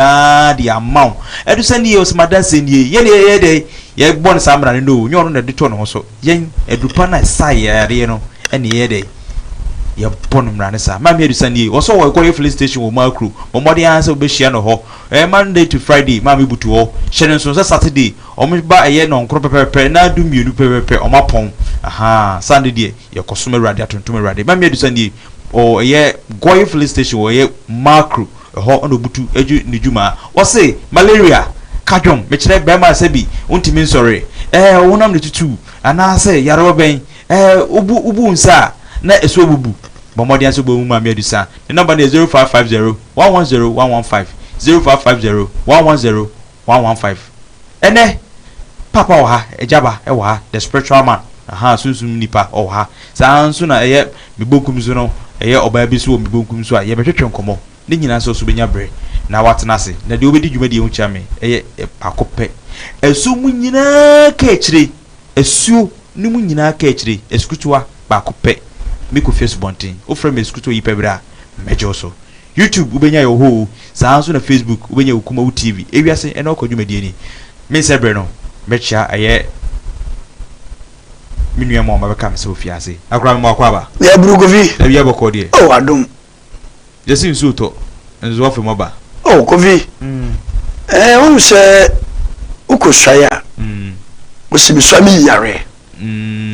nyinaa de ama wo. Ɛto sɛ nie, ɔsɛ m'adanseɛ nie. Yɛn deɛ yɛyɛ dɛn? Yɛbɔ no saa mmara no? No, nyɛ ɔno na ɛde too ne ho so. Yɛn, adupa no a ɛsa yɛn yadeɛ no na yɛyɛ dɛn? Yɛbɔ no mmara no saa. Maame Adusa nie, ɔsɛ ɔwɔ ɛkɔyɛ filling station wɔ Makro. Bɔ mmɔden ara sɛ wobɛhyia no hɔ. Ɛyɛ Monday to Friday, maame butu hɔ. Hyɛ no nso sɛ Saturday, wɔba ɛyɛ nnɔnkron pɛpɛɛpɛ na du mmienu pɛpɛɛpɛ wɔapɔn. Ahaa, Sunday deɛ, yɛkɔsom Awurade, atontom Awurade. Maame Adusa nie, ɔwɔ ɛyɛ Goye filling station wɔ ɛyɛ Makro. Hɔ na obutu dzi ne dwuma. Ɔse, Malaria, ka dwom, mekyerɛ barima a sɛbi ontumi nsɔre, eh, wo honam na etutuw, anaasɛ yarewa bɛn, eh, wobu wobu wo nsa a, na ɛso abubu. Bɔ mmɔden ara sɛ wobɛhu Maame Adusa. Ne nɔmba no yɛ zero five five zero one one zero one one five, zero five five zero one one zero. one one five ɛnɛ paapa wɔ ha agya ba ɛwɔ ha the spiritual man ahaa sunsum nipa ɔwɔ ha saa nso na ɛyɛ me bonkum so no ɛyɛ ɔbaa bi nso wɔ me bonkum so a yɛbɛtwetwe nkɔmɔ ne nyinaa nso so bɛnya bere na watena ase na deɛ ɔbɛdi dwumadie ho kyia me ɛyɛ baako pɛ ɛso mu nyinaa ka akyire Asuo no mu nyinaa kaakyire, asukutuwa baako pɛ me kɔ fi asubɔnten. Wo frɛ me asukutuwa yi pɛ berɛ a, mɛgye wo so. YouTube wo bɛnya yɛ wɔ hɔ oo, saa ara nso na Facebook wo bɛnya wo kuma wo TV. Ewiase ɛna ɔkɔ dwumadie ni. Me nsɛ berɛ no, mɛkyea ɛyɛ me nua mma wɔn ba bɛka me sɛ ofiase. Na koraa me ma wakɔ aba. Yɛ Buru Kofi. Awia bɔkɔɔ deɛ. Oh adom. Gyesi nsuo tɔ nso afei mo aba. Oh Kofi ɛɛ wonim sɛ wokɔ suae a wɔsi me sua me yi yareɛ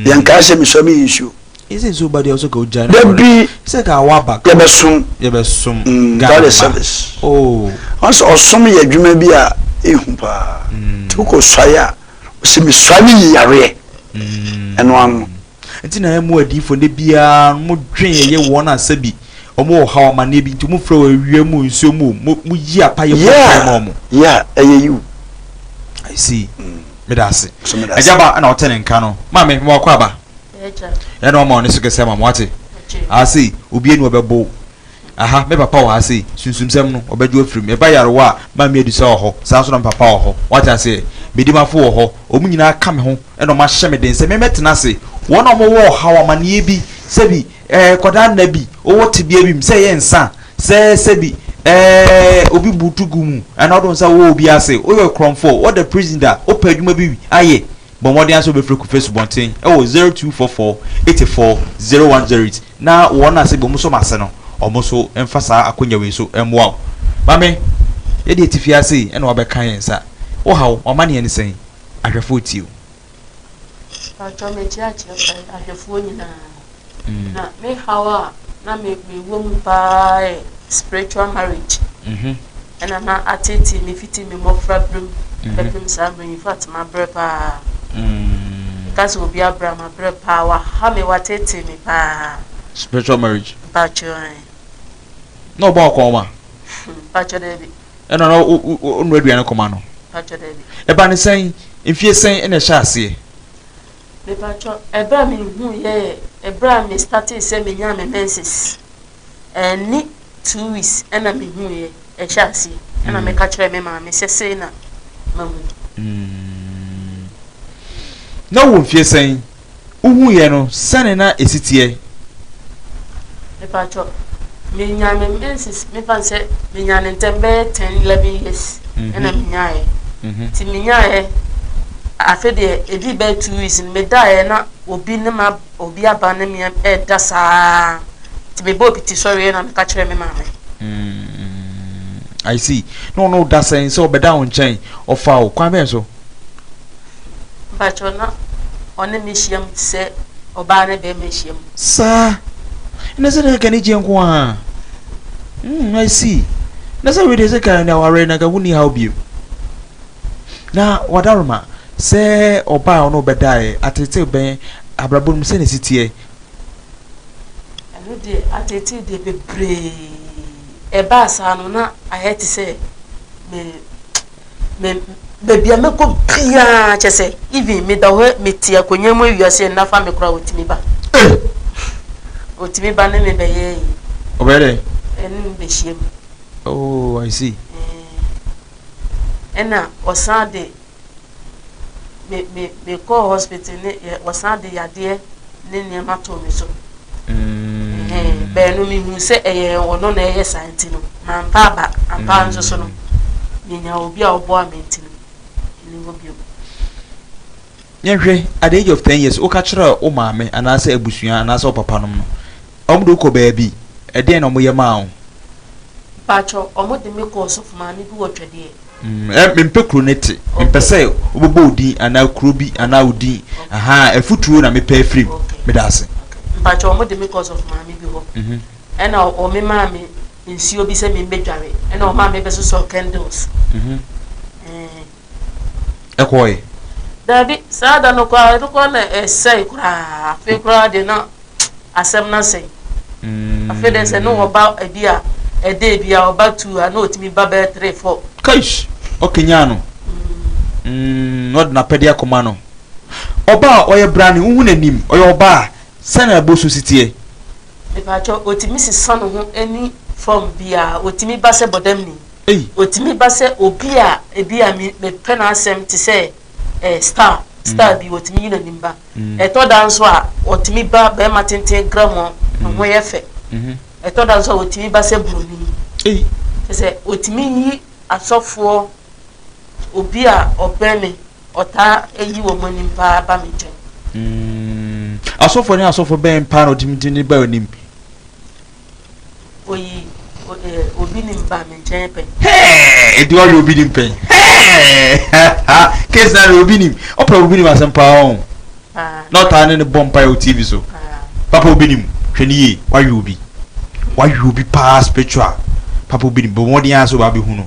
yɛn kaa sɛ me sua me yi nsuo. Gyesi nsuo ba deɛ ɔsɛ ka ogya. Dabi sɛ ka waba ka yɛbɛsom yɛbɛsom God is service. Oh wɔn sɛ ɔsom yɛ adwuma bi a ehu paa nti wokɔ suae a wɔsi me sua me yi yareɛ ɛno ano. Nti na yɛn mu adiyifo nnɛ biara no mo dwen yɛyɛ wɔn a sɛbi wɔn wɔ ɔhaw amaneɛ bi nti mo frɛ wɔn awia mu nsuo mu o mo yi apa yɛ bɔ mpaeɛ ma wɔn. Yeah yeah ɛyɛ yiw. I see. Meda ase. Agya ba na ɔte ne nka no. Maame, mema w'akwaaba. Yɛ na wama wo ne so kɛse ama me, wate? Ase, obiara nni hɔ a ɔbɛbow. Aha, me papa wɔ ha sei. Sunsumsɛm no, wɔbɛgye afiri mu. Ɛba yarewa a, Maame Adusa wɔ hɔ. Saa ara nso na me papa wɔ hɔ. Woate aseɛ? Me dimafo wɔ hɔ. Wɔn nyinaa ka me ho na wɔahyɛ me den sɛ memmɛtena ase. Wɔn a wɔwɔ ɔhaw, amaneɛ bi, sɛbi, eh, akwadaa nna bi, wɔwɔ tebea bi mu, sɛ ɛyɛ nsã, sɛ, sɛbi, eh, obi butu gu mu, anaa wode wo nsa wɔ obi ase, woyɛ ɔkorɔmfoɔ, woda prison da, wopɛ adwuma bi ayɛ. Bɔ mmɔden ara sɛ wobɛfrɛ Kofi Asubɔnten wɔ 0244 84 0108 na wɔn a sɛdeɛ wɔsɔ mo ase no, wɔn nso mfa saa akonnwa wei so mmoa wo. Maame, yɛdeɛ yɛte fie ha sei na woabɛka yɛn nsa. Wo ha wo, w'amanneɛ ne sɛn? Ahwɛfoɔ retie wo. Mpakyɛw mekyerɛ akyerɛ kwan ahwɛfoɔ nyinaa. na me haw a na me mewɔ mu paa yɛ spiritual marriage mhm. ɛna na atetee me fiti me mmɔfra berem mhm. bɛpem saa berɛ in fact mabrɛ paa mm. ka sɛ obi abrɛ mabrɛ paa waha me watetee me paa spiritual marriage mpakyɛ na ɔbɔ ɔkɔn ma mpakyɛ dɛ bi ɛna na ɔnu aduane kɔma no mpakyɛ dɛ bi ɛba ne sɛn mfie sɛn ɛna ɛhyɛ aseɛ Mepakyɛw, ɛberɛ a mehuu yɛ yɛ ɛberɛ a me startee sɛ menyaa me menses. Ɛnni two weeks ɛna mehuu yɛ, ɛhyɛɛ aseɛ. Ɛna meka kyerɛɛ me maame sɛ sei na mahu. Na wowɔ mfeɛ sɛn? Wohuu yɛ no, sɛne na ɛsi teɛ? Mepakyɛ wo, menyaa me menses, mefa no sɛ menyaa no ntɛm bɛyɛ ten eleven years mhm. ɛna menyaeɛ. Mhm. Nti menyaeɛ afe deɛ ɛdii bɛyɛ two weeks no medaeɛ na obi ne ma obi aba ne me ɛda saa nti mebɔɔ piti sɔreɛ na meka kyerɛ me maame. Mm, I see. No, no, that's saying so. But down chain or foul. Kwame, so. Mpakyɛw, na ɔne me hyiam te sɛ ɔbaa ne barima hyiam. Saa? Ɛnde sɛ na ɛyɛ anigyeɛ nko ara. Hmm, I see. Na sɛ wei deɛ sɛ ka na aware na ka wonni haw bio. Na w'adaworoma sɛ ɔbaa a ɔne wo bɛdaeɛ ateetee bɛn abrabɔ no mu sɛnea ɛsi teɛ? Ɛno deɛ, ateetee deɛ bebree. Ɛbaa saa no, na ayɛ te sɛ me me baabi a mɛkɔ biara kyɛ sɛ even meda hɔ mete akonnwa mu awia sɛ nna fa me koraa wɔtumi ba wɔtumi ba ne me bɛyɛ yi ɔbɛyɛ dɛ ɛne me bɛhyia mu oh i see ɛna ɔsan de me me mekɔɔ hospital ne wɔsan de yadeɛ ne nneɛma too me so Mm. Bɛn no mehu sɛ ɛyɛ ɔno na ɛyɛ saa nti no mampa aba ampa nso so no menya mm. obi a ɔboa me nti no ne hɔ bio yɛnhwɛ at the age of ten years woka kyerɛ wo maame anaasɛ abusua anaasɛ wo papa nom no ɔmo de wokɔ baabi ɛdeɛn na ɔmo yɛ maa wo mpakyɛ ɔmo de me kɔɔ sɔfo maame bi wɔ twɛdeɛ Mm, mempɛ kuro no te. Mempɛ sɛ wobɛbɔ wo din anaa kuro bi anaa wo din. Ahaa, afutuo na mepɛ afiri mu. Meda ase. Mpakyɛ ɔmo de me kɔ ɔsɔfo maame bi hɔ ɛna ɔme maa me nsuo bi sɛ memmɛ dware ɛna ɔmaa me bɛ sosɔ candles ɛkɔɔɛ. Daabi, saa da no koraa ɛno koraa na ɛsɛe koraa afei koraa deɛ na. asɛm no asɛe. Afei deɛ sɛ ne wɔba ebi a ɛda ebi a ɔba two a na ɔtumi ba bɛyɛ three four. Kaish! Ɔkanyan no. Mm, na ɔde n'apɛdeɛ akɔma no. Ɔba a ɔyɛ brane, wohu n'anim, ɔyɛ ɔba a, sɛn na ɛbɔ so si teɛ? Mepaakyɛw, ɔtumi sesa ne ho ɛni fɔm biara, ɔtumi ba sɛ bɔdamni, ɔtumi ba sɛ obi a ebi a mepɛ n'asɛm te sɛ. eh, star, star mm. bi, wɔtumi yi n'anim ba. Mm. Ɛtɔ da nso a, wɔtumi ba bɛrima tenten gramu a ne ho yɛ fɛ. Mm-hmm. Ɛtɔ da nso a, wɔtumi ba sɛ buroni. Kyɛ sɛ wɔtumi yi asɔfoɔ obi a ɔbɛn me ɔtaa ayi wɔn anim paa ba me nkyɛn. Mm. Asɔfoɔ ne asɔfoɔ bɛn paa na ɔtumi tumi ba anim? Oyi obi ni mba me nkyɛn pɛ. Hey, di ɔyɛ obi nim pɛn. Hey, case na ɔyɛ obi nim. Ɔpɛ obi nim asɛm paa o. Na ɔtaa ne ne bɔ mpa yɛ TV so. Papa obi nim hwɛ ne yie wayɛ obi. Wayɛ obi paa spiritual. Papa obi nim bɔ mmɔden ara sɛ ɔba abɛhu no.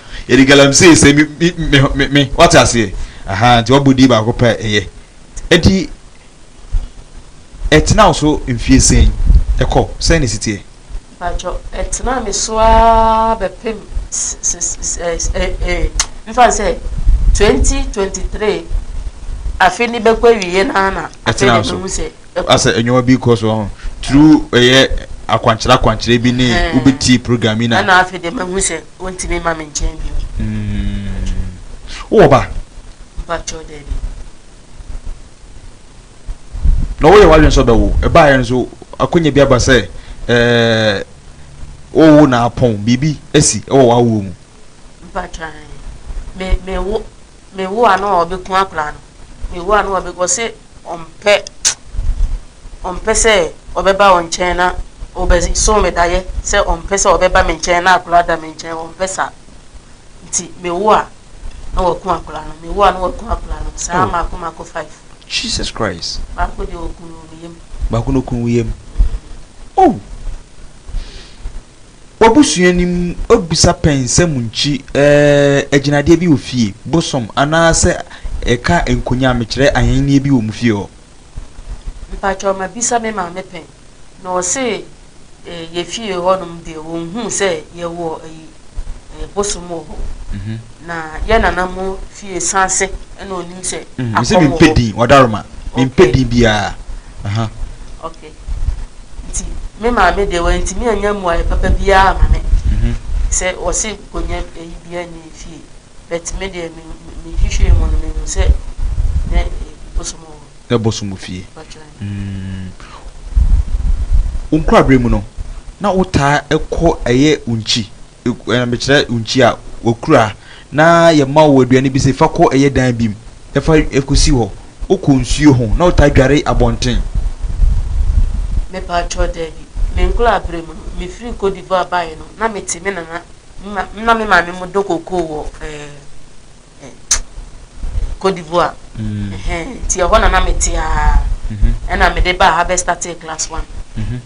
Yɛde galamsey sɛ me me me me me wate aseɛ aha nti wabɔ din baako pɛ ɛyɛ ɛdi ɛtena wo so mfie sɛn ɛkɔ sɛn na ɛsi teɛ. Mpakyɛw ɛtena me so aa bɛpem mfa no sɛ twenty twenty three afe no bɛkɔ awieɛ no ara na afei na ɛbɛhu sɛ ɛkɔ asɛ ɛnwoma bi kɔ so through ɛyɛ akwankyerɛ akwankyerɛ bi ne wobɛtie program yi na ɛna afei deɛ mahu sɛ Wontumi mma me nkyɛn bio. Wowɔ ba? Mpakyɛw daabi. Na woyɛ w'adwene sɛ ɔbɛwo. Ɛbaeɛ nso akɔnya bi aba sɛ ɛɛ wowo na apɔn biribi asi wɔ w'awoɔ mu. Mpakyɛw me me wo. Me wo ano a ɔbɛ ku akwadaa no me wo ano a ɔbɛ ɔse ɔmpɛ ɔmpɛ sɛ ɔbɛ ba ɔnkyɛn na ɔbɛ so me da yɛ sɛ ɔmpɛ sɛ ɔbɛ ba me nkyɛn na akwadaa da me nkyɛn ɔmpɛ sa nti me wo a na waku akwadaa no me wo a na waku akwadaa no saa oh. mako mako five. Jesus Christ. Baako deɛ ɔku no wɔ me yam. Baako na ɔku no wɔ yam. Oh. W'abusua no mu bisa pɛ nsɛm nkyi eh, agyinadeɛ bi wɔ fie, bosom, anaasɛ ɛka nkonyam, mekyerɛ ahennie bi wɔ mo fie hɔ. Mpakyɛw mabisa me maame pɛn na ɔse eh, yɛ fie hɔ nom deɛ wɔnhuu sɛ yɛwɔ ayi eh, bosom wɔ hɔ, na yɛ nana mo fie saase na ɔnim sɛ akɔm wɔ hɔ. Mese mempɛ din, Wadaroma, mempɛ din biara, aha. Ok. nti me maame deɛ wantumi anya mmuaeɛ papa biara ama me sɛ wɔse nkonnwa ayi bi anni fie but me deɛ mehwehwɛɛ mu no mehu sɛ na bosom wɔ hɔ na bosom wɔ fie mm. wo nkoraberɛ mu no na wotaa ɛkɔ ɛyɛ unkyi ɛɛ mekyerɛ unkyi a wɔkura na yɛma wo aduane bi sɛ fa kɔ ɛyɛ dan bi mu na fa kɔsi hɔ. Wokɔ nsuo ho na wotaa dware abɔnten? Mepaatwɔ, daabi. Me nkoraberɛ mu no, mefiri Côte d'Ivoire baeɛ no, na mete me nana na me maame mo dɔ kokoo wɔ ɛɛ. Côte d'Ivoire mm. nti ɛhɔ na na mete aa mhm. ɛna mede baa ha bɛstate class one mhm.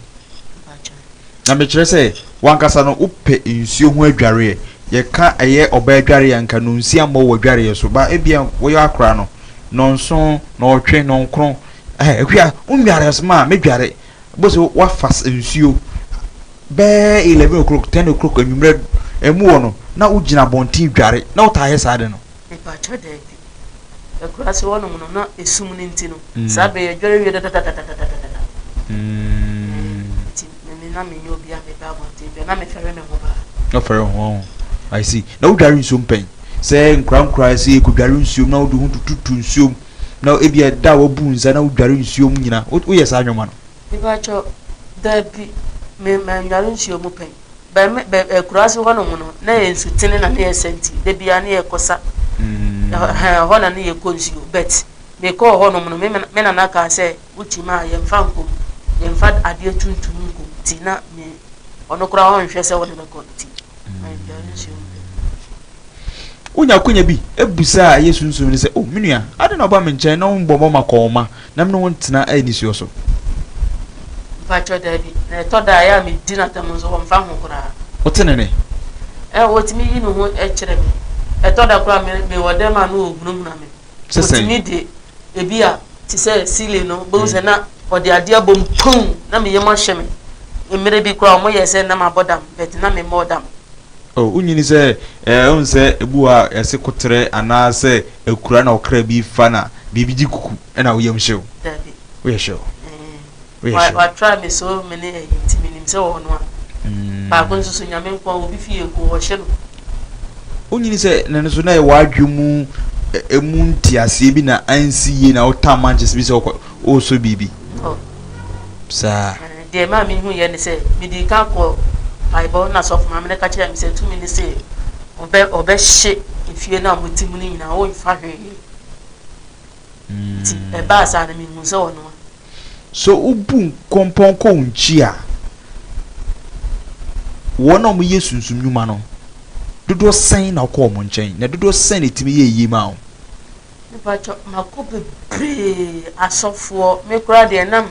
na mekyerɛ sɛ wankasa no wopɛ nsuo ho adwareɛ yɛka ɛyɛ ɔbaa adwareɛ nka no nsi ammɔ wɔ adwareɛ so ba ebia woyɛ akora no nɔnso nɔɔtwe nɔnkron ɛhwia wonware asoma a mɛdware Bose woafa nsuo bɛɛ eleven o'clock ten o'clock anwummerɛ ɛmu hɔ no na wogyina abɔnten dware na wotaa yɛ saa de no. Mepakyɛw daabi. Akuraase hɔ nom no na esum no nti no saa bere yɛ dware wie dadadadadadadada nti me me na me nyɛ obi a me ba abɔnten dware na me fɛre me ho paa. Na fɛre ho ho I see na wo dware nsuom pɛn sɛ nkoraa nkoraa sɛ yɛ kɔ dware nsuom na wode ho tututu nsuom. na ebia da a wabu nsa na wodware nsuo mu nyinaa, woyɛ saa nnwoma no? Mepakyɛw, dabi, me mannware nsuo mu pɛn. Bɛ me bɛ akuraase hɔ nom no, na ɛyɛ nsutene na na yɛsa nti, da biara na yɛkɔsa. Ɛhɔ ɛhɔ na na yɛkɔ nsuo. But mekɔɔ hɔ nom no, me me me nana kaa sɛ, wo kyim a, yɛmfa nkɔ mu, yɛmfa adeɛ tuntum nkɔ mu nti na me ɔno koraa ɔnhwɛ sɛ wo ne me kɔ nti. Wonya akwanya bi bisa a ɛyɛ sunsum no sɛ, O me nua, adɛn na woba me nkyɛn na wommɔ mmɔ makɔnma na me ne wo ntena nisuo so? Mpakyɛw, Dabi, na ɛtɔ da a ɛyɛ a medi no atɛm nso ɔmfa ho koraa. Ɔte ne nne? Ɛɛ, otumi yi ne ho kyerɛ me. Ɛtɔ da koraa a mewɔ dɛm a na ohunahuna me. Te sɛn? Otumi de ebi a te sɛ ceiling no, wobɛhu sɛ na ɔde adeɛ abɔ mu pum! Na me yam ahyɛ me. Mmerɛ bi koraa wɔn yɛɛ sɛ na mabɔ dam but na me mmɔɔ dam. Oh, wonyini sɛ eh, wohu sɛ ebi wɔ hɔ a yɛse koterɛ anaa sɛ akura na ɔkra bi fa na biribi gye kuku ɛna wo yam hye wo? Dabi. Woyɛ sure? Eeh. Watra me so me ne ayi nti me nim sɛ ɔwɔ no a baako nso so nyame nko a obi fi yɛ gu ɔhye no. Wonyini sɛ na no so na yɛ wadwe mu emu nti aseɛ bi na ansi yie na wotaa manches bi sɛ ɔsɔ biribi saa. Deɛ maa me hu yɛ ne sɛ mede ka kɔ paebɔ na sɔfo maame no ka kyerɛ me sɛ tumi ne sɛ ɔbɛ ɔbɛhye efie no a wɔte mu no nyinaa wonfa hwee. Enti ɛbaa saa no, mehuu sɛ ɔnoa. So wobu nkɔmpɔnkɔ nkyi a, wɔn a wɔyɛ sunsum nnwuma no, dodoɔ sɛn na ɔkɔ wɔn nkyɛn, na dodoɔ sɛn na ɛtumi yɛ yie maa wɔn? Mepakyɛ, makɔ bebree, asɔfoɔ, me koraa deɛ nam.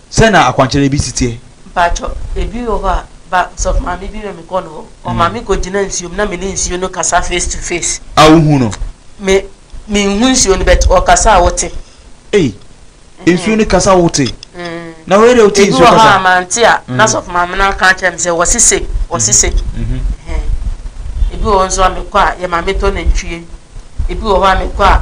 Sɛn na akwankyerɛ bi si teɛ? Mpatsɔ, ebi wɔ hɔ a, ba, ɔsɔfo maame bi ma me kɔ no hɔ. Ɔma me kɔ gyina nsuo mu na me ne nsuo no kasa face to face. A wo hu no? Me, me nhu nsuo no but ɔkasa a wo te. Ei, nsuo no kasa wo te? Na wei deɛ wo te nsuo kasa? Ebi wɔ hɔ a, ma nte a, na sɔfo maame no aka akyerɛ me sɛ wɔ se sei, wɔ se sei. Ebi wɔ hɔ nso a me kɔ a, yɛ ma me tɔ nantwie. ebi wɔ hɔ a mekɔ a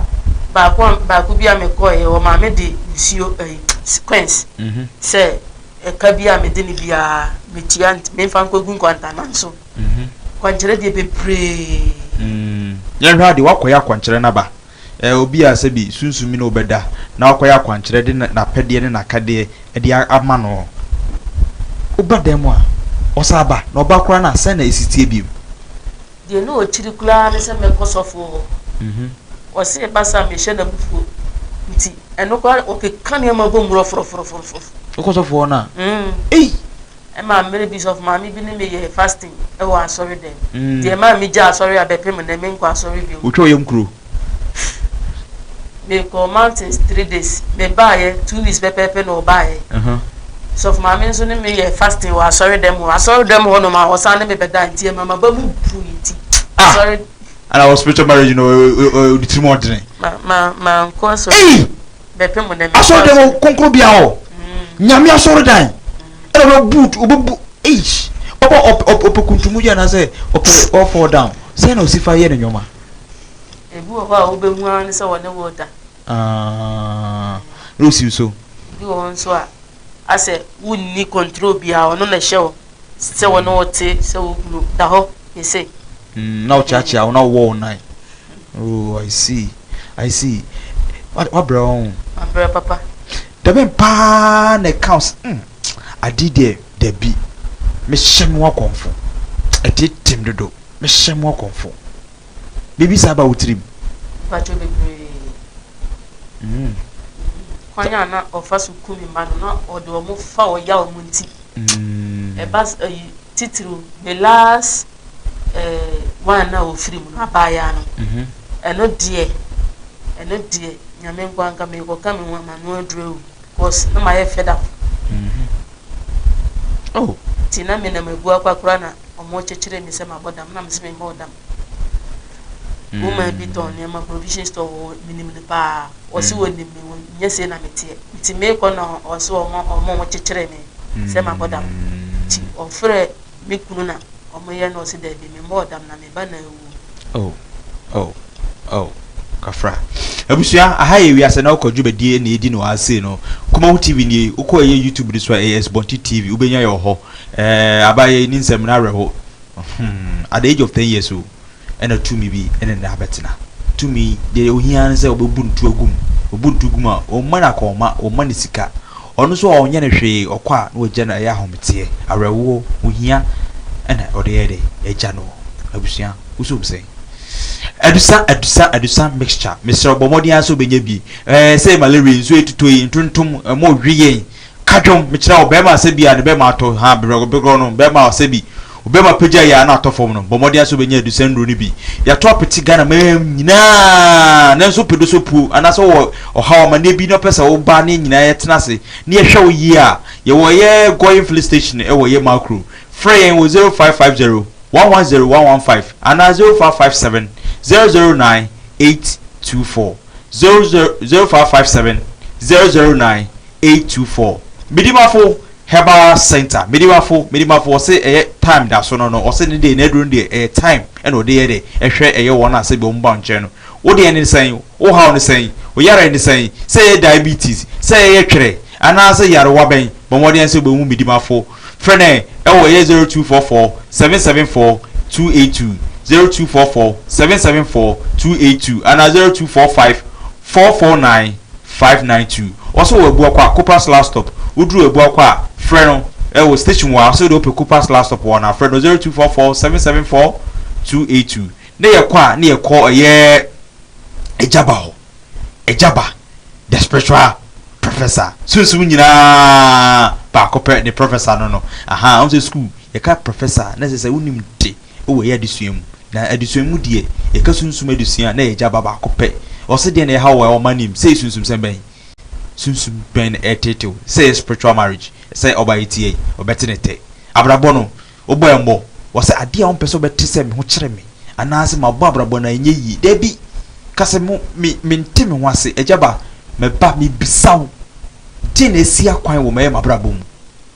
baako a baako bi a mekɔeɛ wɔmaa me de nsuo ɛyi sequence mhm. sɛ ɛka bi a mede ne biara metua memfa nkɔgu nkwantanan so mhm. kwankyerɛ deɛ bebree mm. yɛnhwɛ adeɛ woakɔyɛ akwankyerɛ no aba eh, obi a sɛ bi sunsumi no wobɛda na wakɔyɛ akwankyerɛ de n'apɛdeɛ ne n'akadeɛ de ama no woba dan mu a ɔsa aba na ɔba koraa no a sɛn na ɛsitie biom Deɛ na ɔkyiri koraa ne sɛ mɛkɔ sɔfoɔ hɔ. Ɔse ɛba saa a mehyɛ no abufuo. Nti ɛno koraa no ɔkeka nneɛma bom rɔforɔforɔforɔforɔ. Wokɔ sɔfoɔ hɔ no a? Mm. Ei! Ɛmaa mmerɛ bi sɔfo maame bi ne me yɛɛ fasting wɔ asɔre dɛm. Deɛ ɛmaa megyaa asɔre a bɛpem nnɛ menkɔ asɔre bio. Wotwa wo yam kuro? me kɔɔ mountains three days me baayɛ two weeks pɛpɛɛpɛ na ɔbaayɛ sɔfo maame nso ne me yɛ fasting wɔ asɔre dɛm hɔ asɔre dɛm hɔ nom a ɔsan ne me bɛda nti ɛma ma ba mu bu nti ah! asɔre ana wɔ spiritual marriage no ɔde tirim ɔdene ma ma ma nkɔ asɔre bɛpɛ mu na me asɔre dɛm kɔnkɔn bi a hɔ mm. nyame asɔre dan ɛna ɔbɛ boot ɔbɛ bu eish ɔbɛ ɔpɛ kuntumu yɛ na sɛ ɔpɛ ɔfɔ down sɛ na ɔsi fa yɛ ne nyɔma. Ebi wɔ hɔ a wobɛhu ara ne sɛ wɔne wo reda. Na ɔsi wo so. Ebi wɔ hɔ nso a, asɛ wonni control biara, ɔno na ɛhyɛ wo sɛ wɔne wo te, sɛ wo kunu da hɔ yɛ sei. Mm, na ɔkyeakyea wo na ɔwɔ wo nan. Oh, I see. I see. Wabrɛ wo ho. Wabrɛ papa. Dɛbɛn paa na ɛka wo sɛ, mm, Ade deɛ dabi mehyɛ me wakɔmfo Ɛtetem dodo mehyɛ me wakɔmfo Biribi saa ba wo tirim? Mpakyɛw bebree. Mm. Kwan a na ɔfa so ku ne mma no, na ɔde wɔn fa ɔyaw mu nti. Mm. Ɛba ayi titiriw ne last eh, one na ofiri mu no, abaayaa no. Mhm. Ɛno deɛ, ɛno deɛ, Nyame nkwa nka me kɔka me ho ama no aduru awu. Cos na mayɛ fed up oh nti na me nam agu akwa kora na ɔmo kyekyere me sɛ mabɔ dam na mese memmɔ dam mm. woman bi tɔn nneɛma provision store wɔ menim no paa ɔse mm. wɔnim me nyɛ sei na meteɛ nti meekɔ na ɔse ɔmo ɔmo ɔmo kyekyere me sɛ mabɔ dam nti ɔfrɛ me kunu na ɔmo yɛ na ɔse daabi memmɔ dam na me ba na awu. Oh oh oh kafra abusua aha yɛ wiase na wokɔ dwumadie ɛna ɛdi no ara sei no kumaho tv nie wokɔ ɛyɛ youtube no so a ɛyɛ asubɔnte tv wobɛnya yɛ wɔ hɔ ɛɛ aba yɛ ni nsɛm no awerɛho hmm at the age of 10 years o ɛna tumi bi ɛne ne abɛtena tumi deɛ ohia no sɛ ɔbɛbu ntu agum ɔbu ntu gum a ɔmma no akɔnma ɔmma no sika Ɔno nso a ɔnyɛ no hwee, ɔkɔ a na wagya no ɛyɛ ahometeɛ, awerɛhoɔ, ohia ɛna ɔde yɛ dɛ agya no. Abusua woso ɔm sɛn? Adusa adusa adusa mixture mesrɛ wo bɔ mmɔden ara sɛ wobɛnya bi ɛɛ sɛ malaria yi, nsuo yi ɛtotɔ yi, ntontom, ɛmo we yɛn, ka dwom, mekyerɛ wo bɛɛma a sɛ bi a ne bɛɛma atɔ haa berɛgɔberɛgɔ no bɛɛma a sɛ bi Obama pagyae a na atɔ fam no, bɔ mmɔden ara sɛ obenya adusan nnuru no bi. Yɛato apete Ghana man mu nyinaa, nanso wopɛ dɔ sɛ opuw, anaasɛ wowɔ ɔhaw amanneɛ bi na wopɛ sɛ wo ba ne yɛn nyinaa yɛtena ase na yɛhwɛ wo yiye a, yɛwɔ yɛn Goyim Filling Station wɔ yɛn mall kurom. Frɛ yɛn wɔ 0550 110 115 anaa 0557 009 824, 0557 009 824. Midi m'afo! Herbal center Medimafo Medimafo ɔse ɛyɛ time da so no no ɔse ne deɛ n'aduro no deɛ ɛyɛ time ɛna ɔde yɛ dɛ ɛhwɛ ɛyɛ wɔn a sɛbi wɔn ba nkyɛn no wo deɛ ne sɛn wo haw ne sɛn wo yareɛ ne sɛn sɛ ɛyɛ diabetes sɛ ɛyɛ twerɛ anaa sɛ yarewa bɛn bɔ mmɔden sɛ wobɛhu Medimafo frɛ no ɛwɔ ɛyɛ zero two four four seven seven four two eight two zero two four four seven seven four two eight two anaa zero two four five Four four nine five nine two ɔsɛ wɔ Abua kɔ a Coopers last stop woduru Abua kɔ a frɛ no ɛwɔ station hɔ a ɔsɛ wode wopɛ Coopers last stop hɔ no a frɛ no zero two four four seven seven four two eight two na yɛkɔ a na yɛkɔ ɛyɛ Agyaba hɔ Agyaba the spiritual professor sunsum nyinaa baako pɛ ne professor no no ahaa wohu sɛ school yɛka professor na ɛsɛ sɛ wonim de wɔ yɛ adesua mu. Na adesua mu deɛ yɛka sunsum adesua a na yɛgya ba baako pɛ. Ɔse deɛ na ɛhaw wɔ a ɔma nim sɛ sunsumsɛm bɛn? Sunsum bɛn na ɛretetew? Sɛ yɛ spiritual marriage, sɛ ɔbaa yi teɛ yi, ɔbɛte ne tɛ. Abrabɔ no, wobɔ yɛn bɔ. Ɔse adeɛ a ɔmpɛ sɛ ɔbɛte sɛ me ho kyere me anaasɛ mabɔ abrabɔ no a ɛnyɛ yie. Dabi! Ka sɛ mo, me, mente me ho ase. Agya ba, meba, mebisa wo, deɛn na asi akwan wɔ mɛyɛ m'abrabɔ mu?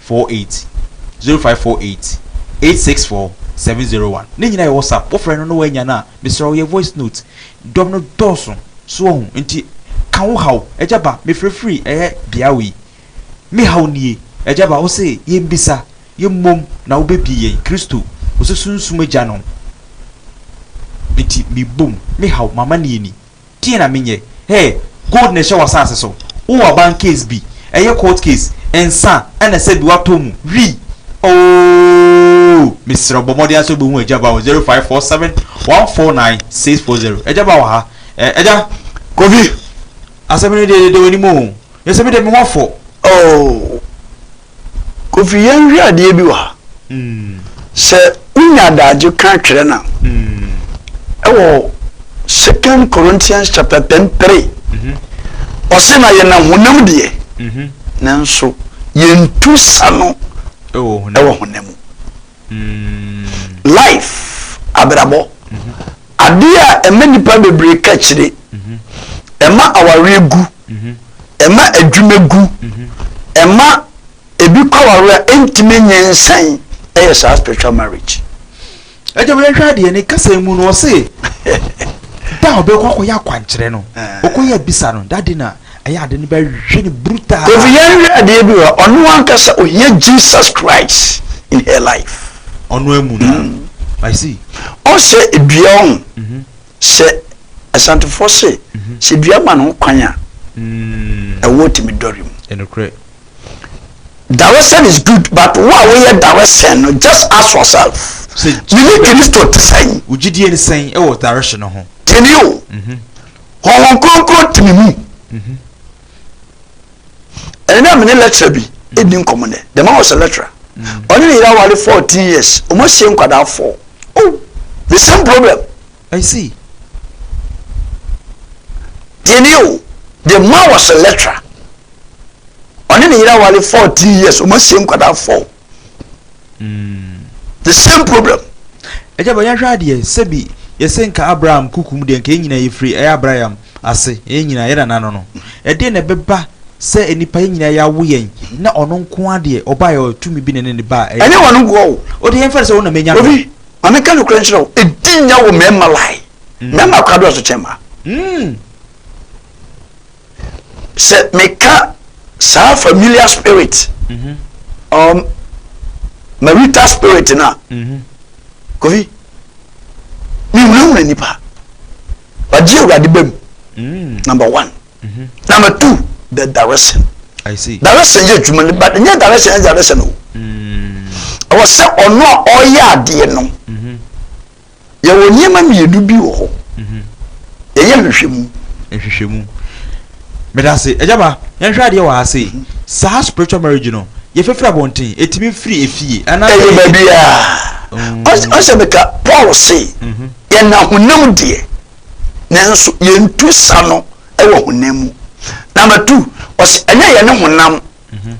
four eight zero five four eight eight six four seven zero one ne nyinaa yɛ whatsapp wofrɛ no na woanya no a mesrɛ wo yɛ voice note dɔm no dɔɔso so wahu nti ka wo haw agya ba mefrɛfiri ɛyɛ bea wei me haw nie agya ba wo se yɛmbisa yɛmmom na wobɛbie yɛn kristo wo se sunsum agya no nti mebom me haw m'amanneɛ ni Deɛn na menyɛ? Hey, gold na ɛhyɛ w'asaase so. Wo aban case bi, ɛyɛ court case, nsa na ɛsɛ bi watɔ mu, wii, ooh! Mesrɛ wo bɔ mmɔden ara sɛ wobɛhu Agya Baa wɔ zero five four seven one four nine six four zero. Agya Baa wɔ ha. Eh, Agya Kofi, asɛm no deɛ ɛdeda w'anim o, na sɛ me deɛ me ho afɔ, ooh! Kofi yɛnhwɛ adeɛ bi wɔ ha. Sɛ wonya adagye ka twerɛ no a, ɛwɔ Second Corinthians chapter ten three, ɔse na yɛn ahonam deɛ, nanso yɛntu sa no ɛwɔ honam mu. Life, abrabɔ. Adeɛ a ɛma nnipa bebree ka akyire. Ɛma awareɛ gu. Ɛma adwuma gu. Ɛma ebi kɔ awareɛ a ɛntumi nyɛ nsan ɛyɛ saa spiritual marriage. Ɛgya ma yɛnhwɛ adeɛ ne kasa mu no ɔse da a ɔbɛkɔ akɔyɛ akwankyerɛ no ɔkɔyɛ bisa no dade na Ɛyɛ ade no bɛwe no brutal. Kofi yɛn hwɛ adeɛ bi wɔ ha ɔno ankasa ohia Jesus Christ in her life. Ɔno amu no a I see. Ɔsɛ dua ɔho mhm. sɛ asantefoɔ se mhm. sɛ dua ma no ho kwan a mm. ɛwɔ tumi dɔre mu. Ɛnokorɛ. Daresɛn is good but wo a woyɛ daresɛn no just ask yourself. Mene Kristo te sɛn? Wo gyidie ne sɛn wɔ daresɛn no ho? Tini o. Mhm. Honhom Kronkron te me mu. Mhm. ɛne na mene lecturer bi ɛdi nkɔmmɔ nɛ the man was a lecturer mm. ɔne ne yere aware 14 years ɔmo asie nkwadaa 4 oh the same problem I see tiɛni o the man was a lecturer ɔne ne yere aware 14 years ɔmo asie nkwadaa 4 Mm. The same problem. Ɛgya bɔ yɛnhwɛ adeɛ sɛbi yɛsɛ nka Abraham kukum deɛ nka yɛn nyinaa yɛfiri ɛyɛ Abraham ase yɛn nyinaa yɛda nano no. Ɛdeɛ na ɛbɛba sɛ nnipa yɛn nyinaa yɛawo yɛn na ɔno nko adeɛ ɔbaa yɛ tumi bi na ne ne baa ɛyɛ. Ɛnyɛ wɔn nko o. O deɛ yɛmfa no sɛ wo na menya no. Obi, ma meka nokorɛ nkyerɛ wo, ɛdi nya wɔ mmarima line. Mmarima akora dɔɔso kyɛn mmaa. Mm. sɛ meka saa familiar spirit mhm. um, marital spirit no a mhm. kofi mehunahuna nipa wagye awurade ba mu mm. number one mhm. number two the direction direction yɛ adwuma no but nyɛ direction yɛ direction o mm. ɛwɔ sɛ ɔno a ɔyɛ adeɛ no Yɛwɔ nneɛma mmienu bi wɔ hɔ. Yɛyɛ nhwehwɛmu. Nhwehwɛmu. Meda ase. Agya ba, yɛnhwɛ adeɛ wɔ ha sei. Mhm. Saa spiritual marriage no, yɛfɛfiri abɔnten, ɛtumi firi efie. Anaa Ɛyɛ baabi a. Mm. Ɔs- Ɔsɛ meka Paul se, Mhm. yɛna honam deɛ, nanso yɛntu sa no wɔ honam mu. Number two, ɔsɛ ɛnyɛ yɛne honam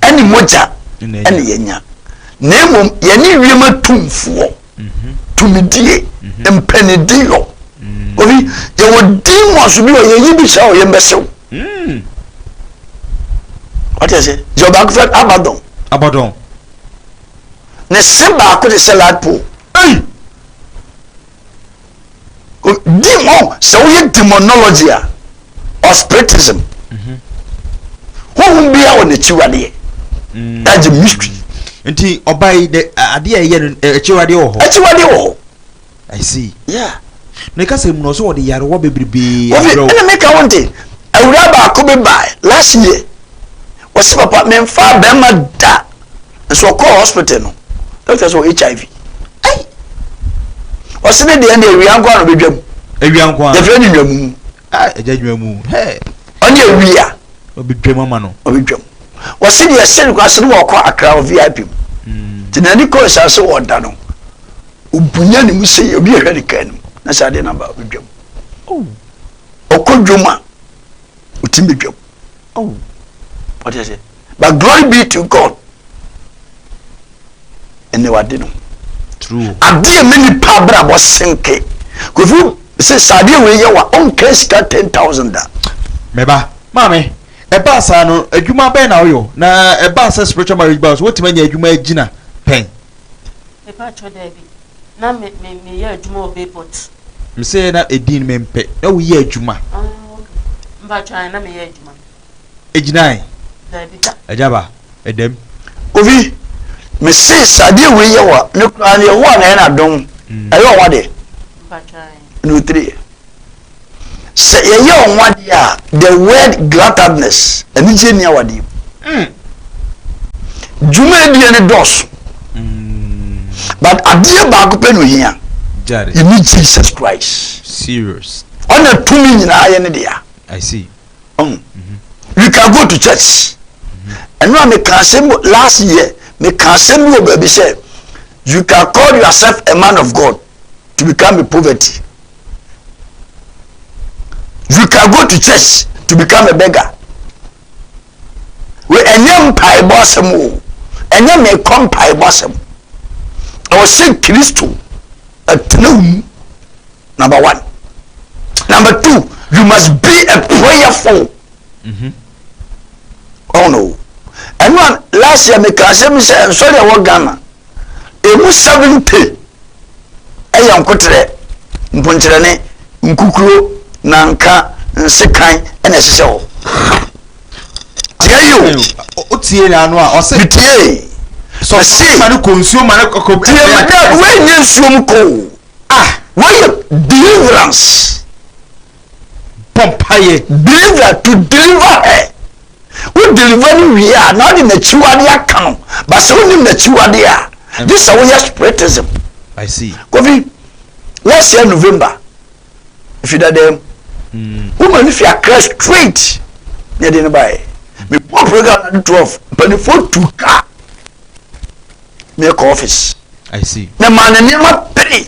ɛne mogya ɛne yɛnya na mmom yɛne wiem atumfoɔ tumidie mpanidiyɔ obi yɛwɔ din mu aso bi wɔ yɛyi bi hyɛ wɔ yɛn bɛsew ɔte ase yɛ ɔbaako fɛ abadɔn abadɔn ne se baako de sɛ ladpo ɛyi di ho sɛ woyɛ demonology a or spiritism mhm. honhom biara wɔ n'akyiwadeɛ mm. that's the mystery nti ɔba yi de adeɛ a ɛyɛ no akyiwadeɛ wɔ hɔ akyiwadeɛ wɔ hɔ i see yeah ne kasa mu na ɔsɛ wɔde yarewa bebrebe abrɛw ɛna meka wo nte awura baako bi bae last year wɔse papa memfa bɛrima da nso ɔkɔɔ hospital no doctor sɛ ɔwɔ hiv ɛyi ɔsi ne deɛ ne awia nko ano bɛdwa mu awia nko ano yɛfrɛ ne nwamu mu ah ɛgya nwamu hɛɛ ɔne awia ɔbɛdwa mu ama no ɔbɛdwa mu ɔsi deɛ ɛsɛ no kɔ ase no ma ɔkɔ akra wɔ vip mu mm. te na ani kɔ nsa sɛ ɔda no obunya ne mu sɛ obi ɛhwɛ ne kaa no na sɛ adeɛ naba ɔbɛdwa mu oh. ɔkɔ dwom a ɔtumi bɛdwa mu oh ɔde ase but glory be to god ɛnna wade no adeɛ mi nipa abrabɔ senke kofi sɛ saadeɛ wei yɛ wa ɔnka sika ten thousand da. mɛba maame ɛbaa saa no adwuma bɛn na ɔyɔ na ɛbaa sɛ spiritual marriage baa so wotumi anya adwuma agyina pɛn. Mepakyɛw dabi, na me me meyɛ adwuma wɔ Bayport. Mese na edin mempɛ, na woyɛ adwuma. Ah ok, mepakyɛw ae na meyɛ adwuma. Egyinae? Dabi da. Agya ba, ɛdam. Kofi, mese sɛ adeɛ wei yɛ wo a, me koraa no Yehowa na ayɛ no adom, ɛyɛ wo nwa deɛ. Mepakyɛw ae. no tiri. Sɛ yɛyɛ wɔn adeɛ a, the word glatadness, anigyeɛ nni awadeɛ mu. Mm. Dwumadie no dɔɔso. Mm. But adeɛ baako pɛ na ohia. You need Jesus Christ. Serious. Ɔna tumi nyinaa yɛ ne dea. I see. Um, mm -hmm. We can go to church. And now me can say last year, me can say no baby say, you can call yourself a man of God. to become a poverty. You can go to church to become a beggar. We enye mpaebɔ asɛm o, enye mekɔ mpaebɔ asɛm. Ɛwɔ sɛ Kristo ɛtena mu, number one. Number two, you must be a prayerful. Mm -hmm. Oh no. Ɛno a last year meka asɛm sɛ nsɔre ɛwɔ Ghana Emu seventy yɛ nkoterɛ, mponkyerɛne, nkukuro, nanka, nsekan na ɛhyehyɛ hɔ. Tie yi o. O tie na ano a ɔsɛ. Metie. Sɔ ma ne kɔ nsuo ma ne kɔ. Tie ma dɛ wei nye nsuo mu kɔ o. Ah. Wei yɛ deliverance. bɔ mpaeɛ deliver to deliver her wo deliver no wie a na ɔde n'akyiwadeɛ aka no ba sɛ wonim n'akyiwadeɛ a gye sɛ woyɛ spiritism kofi lɛseɛ november ɛfi dada mu hmm. woma no fi akra straight na ɛde no baɛ mebɔ program no de 12 mpanimfoɔ tu ka mekɔ office I see. Memaa no nneɛma pere.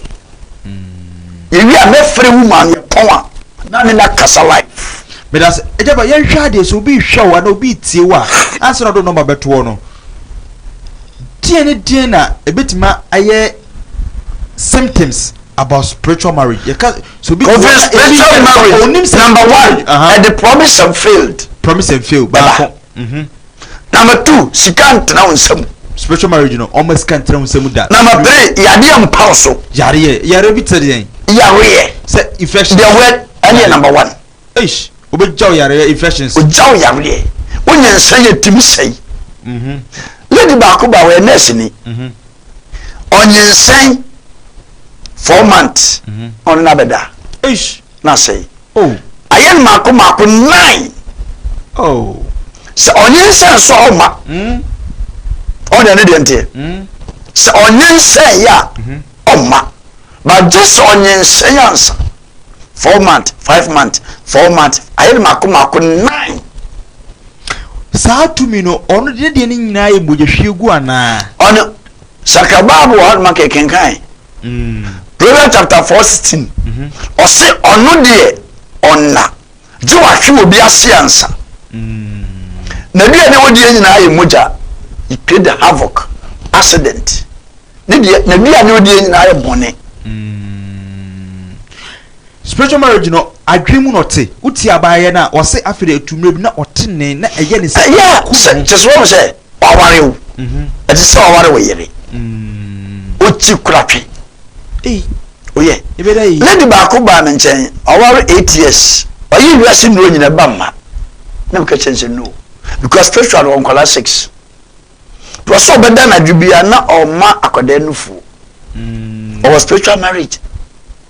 Yɛwie a, mɛfrɛ wo maa no yɛpɔn a, na ne na kasa live. Meda ase. Agya ba yɛnhwɛ adeɛ sɛ obi rehwɛ wo anaa obi retie wo a, ansa na ɔde nɔma bɛtoɔ no, deɛ ne deɛ na ɛbɛtumi ayɛ symptoms about spiritual marriage. Yɛka so bi Kofi spiritual marriage number one ɛde promise and failed. Promise and failed baako. Mhm. Na meto sika ntena wo nsa mu. Spiritual marriage no ɔma sika ntena wo nsa mu da. Na mepere yadeɛ mpa wo so. Yareɛ yareɛ bi te sɛ deɛn. Yareɛ. Sɛ infection. Deɛ wɛ ɛne number one. Eish obɛgya wo yareɛ infections. Ogya wo yareɛ wonyɛ nsa yɛ timi sɛi. Mhm. Lady baako ba ɔyɛ nurse ni. Mhm. ɔnyinsɛn four months mhm. ɔno na bɛda na sɛe oh. ayɛ no maako maako nine oh. sɛ ɔnyinsɛn so a ɔma mhm. ɔne ne deɛ nteɛ mhm. sɛ ɔnyinsɛn yɛ a ɔma bagye sɛ ɔnyinsɛn ansa four month five month four month ayɛ no mako mako nine. Saa tumi no ɔno de ne deɛ no nyinaa yɛ mogyahwiegu anaa? Ɔno sakra baabu wɔ hɔnom anka ɛkenkan. Mm. Proverbs chapter four sixteen. Mhm. Ɔse ɔno deɛ ɔnna. Gye w'ahwe wɔ bi ase ansa. Na bi a deɛ wɔdeɛ nyinaa yɛ mogya. It create havoc, accident. Ne deɛ na bi a deɛ wɔdeɛ nyinaa yɛ bɔne. Spiritual marriage no adwene mu na ɔte. Wotie abaayɛ no a ɔse afei de ɛtu mmerɛ bi na ɔte ne na ɛyɛ ne sɛ ɔku no. Kyɛ sɛ wɔn sɛ Waware wo. Ɛte sɛ waware wo yere. Wokyi koratwe. Oyɛ. Lady baako baa me nkyɛn, ɔware eight years. Ɔyɛ wiase nnuro nyina ɛba mma. Na meka kyɛn sɛ no. Because spiritual wɔ nkwadaa six. Wɔ sɛ ɔbɛda anadwo bi a na ɔma akwadaa nufuo. Ɔwɔ spiritual marriage.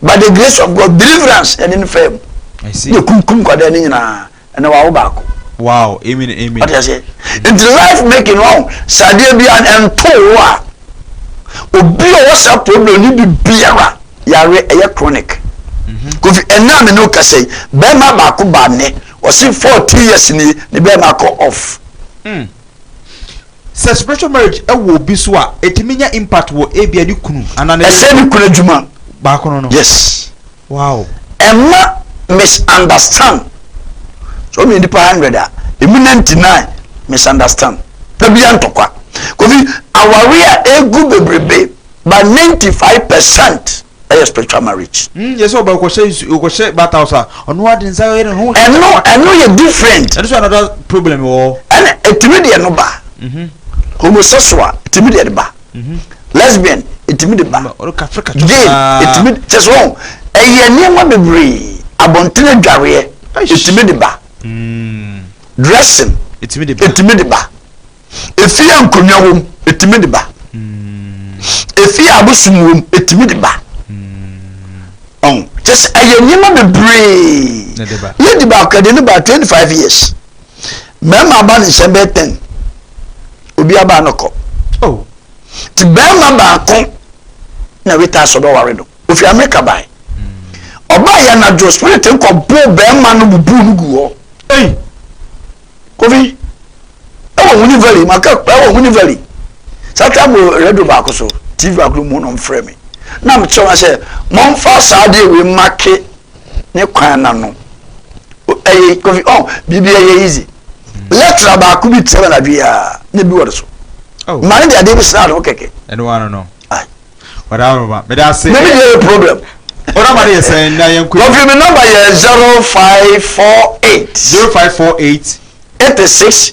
By the grace of God, deliverance ɛne ne fam. Ne kunkum nkwadaa ne nyinaa. Ɛnɛ wawo baako. Wow amen amen. Wate aseɛ nti life making no wawo sɛ adeɛ bia ɛntoo wo a obi a ɔwɔ saa problem no bi biara yare ɛyɛ chronic. Mhm. Kofi ɛnɛ a me ne okasa yi bɛrima baako ba ne ɔsi fourteen years ni ne bɛrima kɔ off. Mm. Sɛ spiritual marriage ɛwɔ obi so a ɛtumi nya impact wɔ ebia ne kunu anaa ne. Ɛsɛ ne kunu adwuma. Baako no no. Yes. Wow. Ɛmma misunderstand sɛ ɔmeyɛ nipa hundred a ɛmu ninety nine misunderstand pɛbia ntɔkwa kofi aware a ɛgu bebrebe ba ninety five percent ɛyɛ spiritual marriage. Hmm, yɛ sɛ ɔba ɔkɔhyɛ nsu ɔkɔhyɛ bata house a ɔno ade nsa yɛ ne ho. ɛno ɛno yɛ different. ɛno so another problem wɔ. ɛna ɛtumi deɛ no ba. Mhm. homosexual ɛtumi deɛ no ba. mhm. lesbian ɛtumi de ba gay ɛtumi kyɛ sɛ ɔn ɛyɛ nneɛma bebree abɔntene adwareɛ ɛtumi de ba hmm. dressing ɛtumi de ba ɛfie a nkonnwa wom ɛtumi de ba hmm. ɛfie a abosom wom ɛtumi de ba hmm. ɔn kyɛ sɛ ɛyɛ nneɛma bebree lady baako ɛde no ba 25 years bɛrima ba ne hyɛ bɛyɛ ten obi aba no kɔ oh. ti bɛrima baako na weta asɔ bɛ ware no ofi amerika bae hmm. ɔba yɛ anadwo spirit nkɔ bo bɛrima no bubu no gu hɔ kofi ɛwɔ huni valley maka ɛwɔ huni valley sata mo radio baako so tv baako mu na ɔmfrɛ me na mekyerɛ wa sɛ mɔmfa saa deɛ wei make ne kwan na no ɛyɛ kofi ɔn oh, biribi ɛyɛ easy lɛtira baako bi tẹ na dwi aa ne bi wɔde so oh. maa ne de adeɛ bi sra ano kɛkɛ. ɛnu wa no no ɔda aroma mɛ da se. mɛmi yɛ problem. o nọmba de yɛ sɛn na yɛn nkuli. kofi mi nọmba yɛ zero five four eight. zero five four eight. eighty six.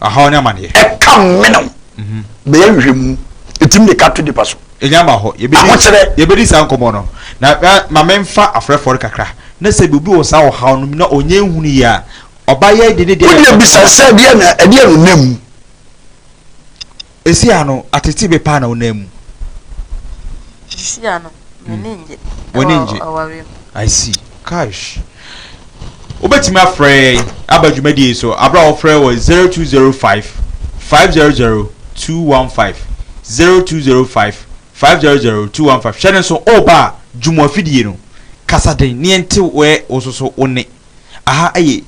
Ahaw ne amaneɛ. Ɛka mene wo. Bɛyɛ nhwehwɛmu. Ɛtumi de ka to nipa so. Ɛnya mma hɔ. Yɛbɛdi. Ahokyerɛ. Yɛbɛdi saa nkɔmmɔ no. Na ma menfa afrɛfoɔ no kakra. Na sɛ obi wɔ saa ɔhaw no mu na ɔnyɛ nhunu yie a, ɔba yɛn de ne deɛ. Wodeɛ bisa sɛ ɛdeɛ na ɛdeɛ na ɔnam mu. Esi ano, atete be paa na wo nan mu. Esi ano, m'ani ngye. W'ani ngye. Ɛwɔ awareɛ mu. I see. Kaish. Wobɛtumi afrɛ yɛn aba dwumadie yi so abere a wɔfrɛ wɔ 0205 500 215 0205 500 215 hwɛ no nso woba a dwuma afidie no kasa den na yɛnte wɛ wo soso wo nne. Aha yɛ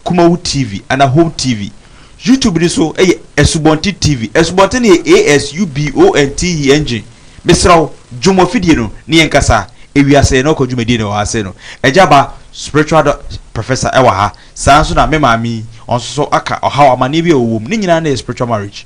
Kumawu TV anaa Home TV. YouTube no nso yɛ Asubɔnten TV. Asubɔnten no yɛ A-S-U-B-O-N-T-E engine. Mesrɛ wo, dwo mo afidie no na yɛnkasa. Ewiase yɛn na ɔkɔ dwumadie na ɛwɔ ha sei no. Agya Ba, Spiritual Dɔ Professor wɔ ha. Saa ara nso na me maame yi, ɔno nso so aka ɔhaw, amanneɛ bi a ɔwɔ mu. Ne nyinaa na ɛyɛ Spiritual Marriage.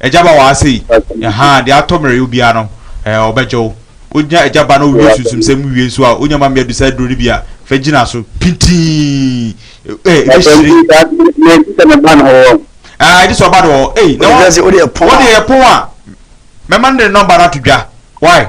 Agya Ba waa sei, ahaa, deɛ atɔ mmerɛyɛ obiara no, eh, ɔbɛgye wo. Wogyina Agya Ba na wowie sunsumsɛm mu wie nso a, wonya ma mmea du saa aduro no bi a, fa gyina so, pintinn, eh, ɛbɛhyire. Ɛɛ, gye sɛ ne ba no wɔ hɔ. Ahaa, gye sɛ ɔba no wɔ hɔ. Ei, na wa, wo deɛ yɛ pon a, mɛma no de ne nɔmba no ato dwa. Wai?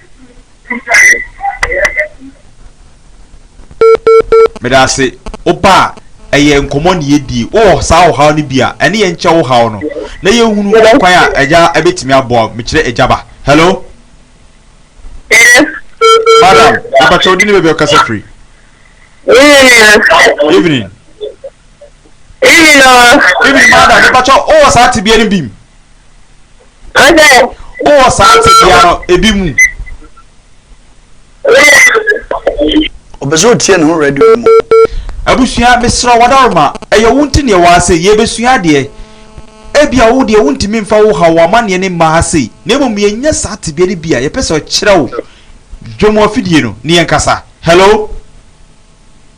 meda ase woba a ɛyɛ nkɔmmɔ ne yɛdie wowɔ saa ɔhaw no bi a ɛne yɛn nkyɛ wo haw no na yɛhunu kwan a agya ɛbɛtumi aboa mekyerɛ agya ba hello madam mepakyɛ wode ne baabi ɔkasa firi evening evening madam mepakyɛ wowɔ saa tebea no bim Wowɔ saa tebea no ebi mu? Ɔpɛ sɛ ɔtie ne ho radio no mu. Abusua mesrɛ wo adaworoma, ɛyɛ wo nti na yɛwɔ ha sei, yɛrebɛsua adeɛ. Ebia wo deɛ wontumi mfa wo haw, w'amanneɛ no mma ha sei, na mmom yɛnya saa tebea no bi a, yɛpɛ sɛ ɔkyerɛ wo dwom afidie no na yɛnkasa. Hello?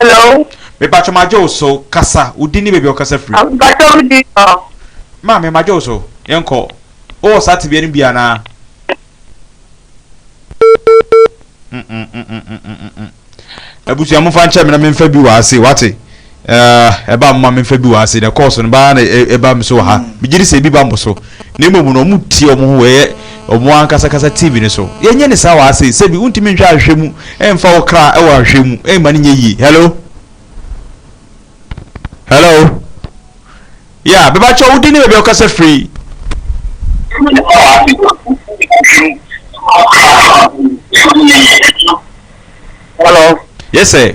Hello. Mepatwɔ ma gye wo so, kasa, wo di ne baabi a ɔkasa firi. Mepatwɔ me di so. Maame ma gye wo so, yɛn kɔ. Wo wɔ saa tebea no bi anaa? Abusua mo fa nkyɛn me na me nfa bi wɔ ase, wate? Eh, ɛba moma memfa bi wɔ ha se na kɔɔso no baa na ɛba me so wɔ ha. Megye di sɛ ebi ba mo so. Na mmom no, wɔtie wɔn ho wɔ ɛyɛ wɔn ankasa kasa TV no so. Yɛnyɛ no saa wɔ ha sei. Sɛbi wontumi nhwɛ ahwehwɛ mu mfa wo kra wɔ ahwehwɛ mu mma no nyɛ yie. Hello? Hello? Yeah, bɛba kyɛ wo din ne baabi a wokasa firi. Hello? Yes, sir.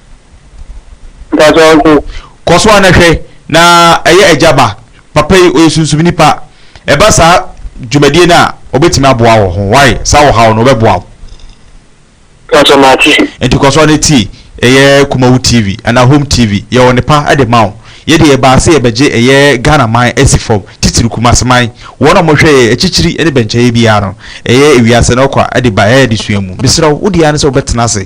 Kɔ so ara na hwɛ na ɛyɛ agya ba. Papa yi ɔyɛ sunsumni pa. Ɛba saa dwumadie no a, ɔbɛtumi aboa wo ho. Why? Saa ɔhaw no, ɔbɛboa wo. Pastor Mate. Nti kɔ so ara na tie ɛyɛ Kumawu TV anaa Home TV. Yɛwɔ nnepa de ma wo. Yɛn deɛ yɛbaa sɛ yɛbɛgye ɛyɛ Ghana man asi fam, titiriw Kumasi man. Wɔn a wɔhwɛ yɛn akyikyiri ne bɛnkyɛeɛ biara no, ɛyɛ ewiase no ɔkwa de ba yɛn adesua mu. Mesrɛ wo, wo deɛ ara ne sɛ wobɛtena ase.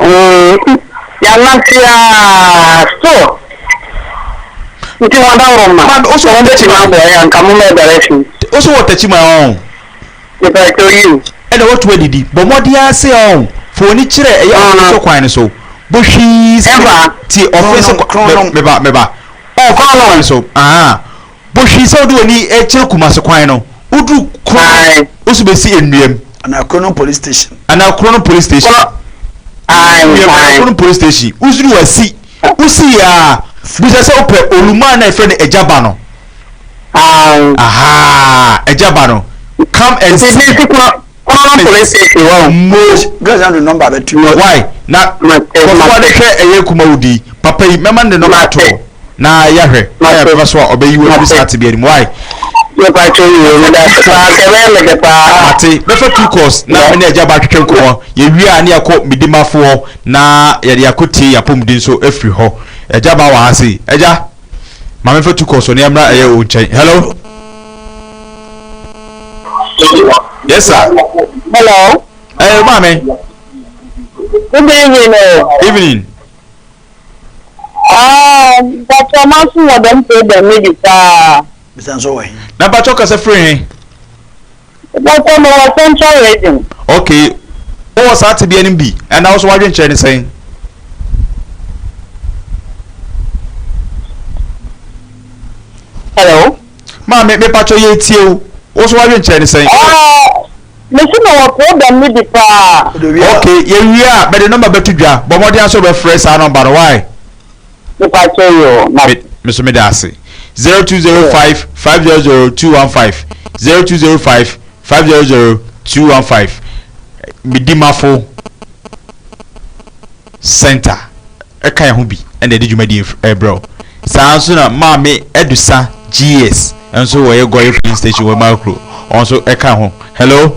Ooh yɛanante aa still nti ho adaworo mma Mad, wo so wɔ tɛkyi ma? aboa yɛ anka mo mɛ bɛrɛ fi Wo so wɔ tɛkyi ma ɔn? mepɛ kyɛw yiw Ɛna woatu adidi. Bɔ mmɔden ara sɛ ɔn. Fa w'ani kyerɛ ɛyɛ ɔfe so kwan no so. Bɔ hwii sɛ Ɛmfa. tie ɔfe so kwan Kronnom, kronnom. Meba, meba. Ɔn, fa Kronnom. kwan so. Ahaa. Bɔ hwii sɛ wode w'ani rekyerɛ Kumase kwan no, woduru Krono wo so bɛsi Nnuam. Anaa Krono Police Station. Anaa Krono Police Station. Woduru Nnuam anaa Krono Police Station, woduru Wasi. Wosi yɛ a, bisa sɛ wopɛ Oluma a na yɛfrɛ no Agya Ba no. Ahaa, Agya Ba no. Come and see. Common police station wɔ. Mo. Girls na de number bɛ to. Why na. Kɔfɔ ade hwɛ ɛyɛ kuma wo di. Papa yi mɛma ne de number to hɔ na yɛ hwɛ. Ɛyɛ bɛfa so a ɔbɛ yi wo afiri saa tibia ni mu why. Yɛ pa atwa yi wo meda se paa kɛ bɛyɛ me de paa. Ate bɛfa two calls na me ne agya ba twetwe nkɔmɔ yɛ wie a ne yɛ kɔ me di ma fo hɔ na yɛ de akɔ tie yɛ apɔmuden so afiri hɔ agya ba wɔ ha se agya. Maame fa tu kɔ so ne ɛmra ɛyɛ wo nkyɛn. Hello. Yes sir. Hello. Ɛyɛ eh, maame. Good evening o. Oh. Evening. Ah, bàtà máa fún ọ̀dọ́ mpé dẹ̀ méjì sáà. Bisa nso wɔ he? Na mpakyɛ ɔkasa firi he? Dɔkɔ no wɔ central region. Ok, wowɔ saa tebea no bi anaa wo so w'adwenkyerɛ ne sɛn? Hello. Maame mepakyɛ yɛretie wo, wo so w'adwenkyerɛ ne sɛn? Mesi na wɔ problem no bi paa. Ok, yɛwie a bɛde nɔmba bɛto dwa, bɔ mmɔden asɛ wobɛfrɛ saa nɔmba no, why? Mepatwo yoo na. Me me so meda ase. Zero two zero five five zero zero two one five zero two zero five five zero zero two one five me dimafo center ɛka yɛn ho bi ɛna ɛde dwumadie f- ɛbrɛ wo saa ara nso na maame adusa gs nso wɔyɛ gɔye filling station wɔ makuro wɔn nso ɛka ho hello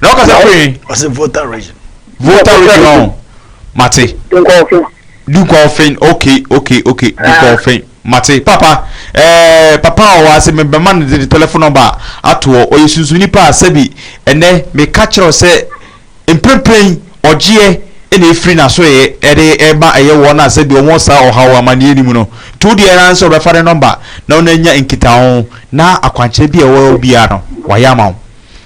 na ɔka sɛ kɔe ɔsɛ voter region voter region mate dukɔɔfen ok ok ok dukɔɔfen mate papa ɛɛ eh, papa a ɔwɔ ase mebɛma no de telefon nɔmba atoɔ ɔyɛ sunsun nipa a sɛbi ɛnɛ meka kyerɛw sɛ Mprempren ɔgyeɛ na ɛfiri n'asoɛeɛ de rema ɛyɛ wɔn a sɛdeɛ wɔwɔ saa ɔhaw amaneɛ no mu no. Nti wo deɛ ara ne sɛ wobɛfa ne nɔmba na wo ne no anya nkitaho na akwankyerɛ biara a ɛwɔ hɔ biara no wayɛ ama wo.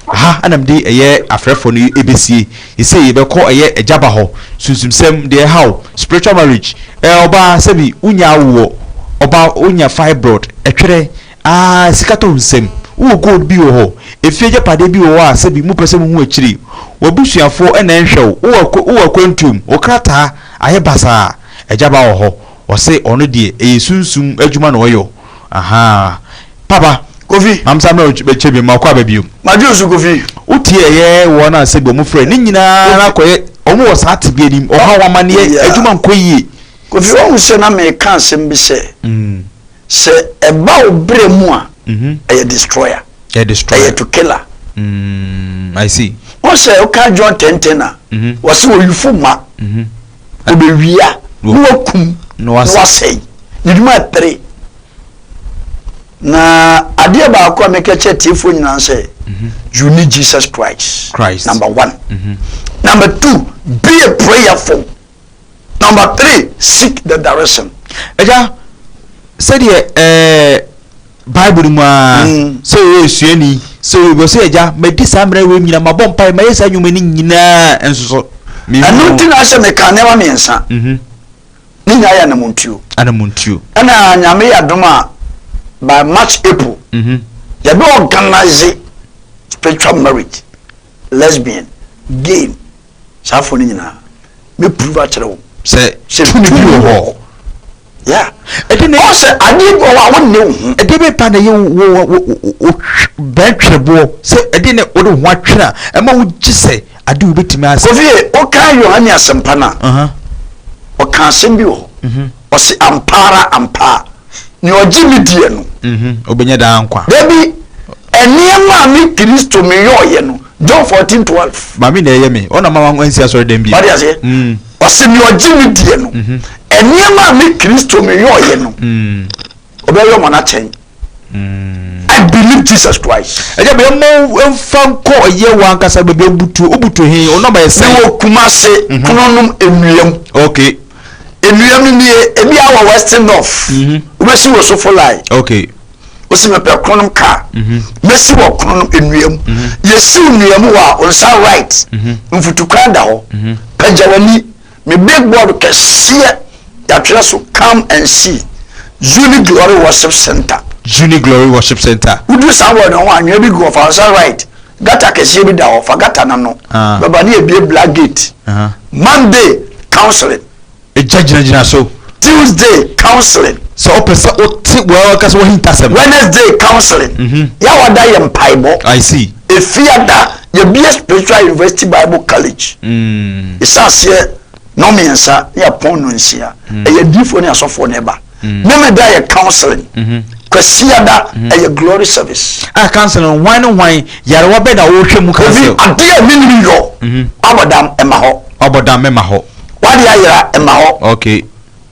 Aha na mede ɛyɛ afrɛfoɔ no bɛsie. Seisei yɛbɛkɔ ɛyɛ agya ba hɔ. Sunsumsɛm, deɛ ɛhaw, spiritual marriage, ɛɛ ɔbaa sɛbi wonya awoɔ, ɔbaa wonya fibroid, ɛtwerɛ, Ah, sika tɔ nsɛm. Wowɔ gold bi wɔ hɔ, efie agyapadeɛ bi wɔ hɔ a sɛbi mopɛ sɛ mohu akyiri. W'abusuafoɔ na ɛnhwɛ wo, wowɔ akwa, wowɔ akwantuo mu, wo krataa ayɛ basaa. Agya ba wɔ hɔ, ɔse ɔno deɛ ɛyɛ sunsum adwuma na ɔyɔ. Ahaa. Papa. Kofi. Maame saa mmerɛ wo bɛkyɛ biom, makɔ aba biom. Madwene wo so Kofi. Wotie ɛyɛ wɔn a sɛbi wɔn frɛ, ne nyinaa na akɔyɛ, wɔn wɔ saa tebea no mu, ɔhaw, amaneɛ, adwuma nkɔ yie. Kofi wahu sɛ na meka asɛm bi sɛ sɛ ɛba wo berɛ mu a ɛyɛ destroyer, ɛyɛ to killer. Wo sɛ woka John tenten a wɔse ɔyifo mma ɔbɛwia na wakum na wasɛe ne dwuma ɛpere. Na adeɛ baako a meka kyerɛ atiefoɔ nyinaa sɛ you need Jesus Christ number one. Number two be a prayerful. Number three, seek the direction. Agya, sɛdeɛ ɛɛ Bible mu a, mm. sɛ ɔyɛ esuani, sɛ ɔyɛ bɔ sɛ agya, madi saa mmerɛ wei nyina, mabɔ mpae, mayɛ saa nnwuma no nyinaa nso so. Ɛno nti na sɛ meka nneɛma mmiɛnsa. Mhm. Ne nyinaa yɛ anamontuo. Anamontuo. Ɛna nyame yɛ adom a by March April. Mhm. Yɛbɛ organize spiritual marriage, lesbian, gay. saa afɔ no nyinaa mɛ prove akyerɛ wo sɛ sɛ tumi bi wɔ hɔ ya ɛde ne ɔsɛ adeɛ bi wɔ hɔ a wonne wo ho ɛde bɛ pa na yɛ wo bɛn twerɛboɔ sɛ ɛde ne wode ho atwerɛ a ɛma wo gye sɛ ade wo bɛtumi asɛ kofie woka yohane asɛmpa no a ɔka asɛm bi wɔ hɔ mhm. Ɔse, Ampa ara, ampa ara, nea ɔgye me diɛ no. Mm-hmm, obenya daa nkwa. Dabi, nneɛma a me Kristo meyɔɔyɛ no, John fourteen twelve. Maame na ɛyɛ me, ɔna ma wansi asɔredan bio. Wate aseɛ? Mm. Ɔse, nea ɔgye me diɛ no, mm-hmm. nneɛma a me Kristo meyɔɔyɛ no, mm. ɔbɛyɔ ma no akyɛn. I believe Jesus Christ. Ɛyɛ bɛ mo nfa nkɔ ɛyɛ wɔn ankasa baabi obutu obutu he ɔno ama yɛ sɛn. Mewɔ Kumase mhm. kununom enuam. Okay. Enuam no nie ebi awɔ western north. Mhm. Wobɛsi wɔ sofo line. Okay. Wosi mepɛ kununom kaa. Mhm. Mesi wɔ kununom enuam. Yɛsi enuam wɔ a nsa right. Nfutukwan da hɔ. Pɛgya w'ani. Me billboard kɛseɛ yɛatwerɛ so come and see Zuni Glory Worship Centre. Zuni Glory Worship Centre. Woduru saa wɔ no ho a nwea bi gu hɔ fa nsa right gutter kɛseɛ bi da hɔ fa gutter no ano bɛba ne yɛbue black gate Monday counseling. Egya gyinagyina so. Tuesday counseling. Sɛ wopɛ sɛ wote w'ankasa w'ahintasɛm. Wednesday counseling. Yɛ a wada yɛ mpaebɔ. I see. Efiada, yɛbue Spiritual University Bible College. Yɛhyɛaseɛ nnɔnmiɛnsa ne apɔn nnɔnsia. Ɛyɛ adiyifoɔ ne asɔfoɔ na ɛba. Memeda ɛyɛ counseling. Kwasiada, ɛyɛ glory service. Ah, counseling, hwan ne hwan, yarewa bɛn na wɔhwɛ mu counsel? Kofi, adeɛ a menim yɔ, wabɔdam, ɛmma hɔ. Wabɔdam, ɛmma hɔ. Wade ayera, ɛmma hɔ. Okay.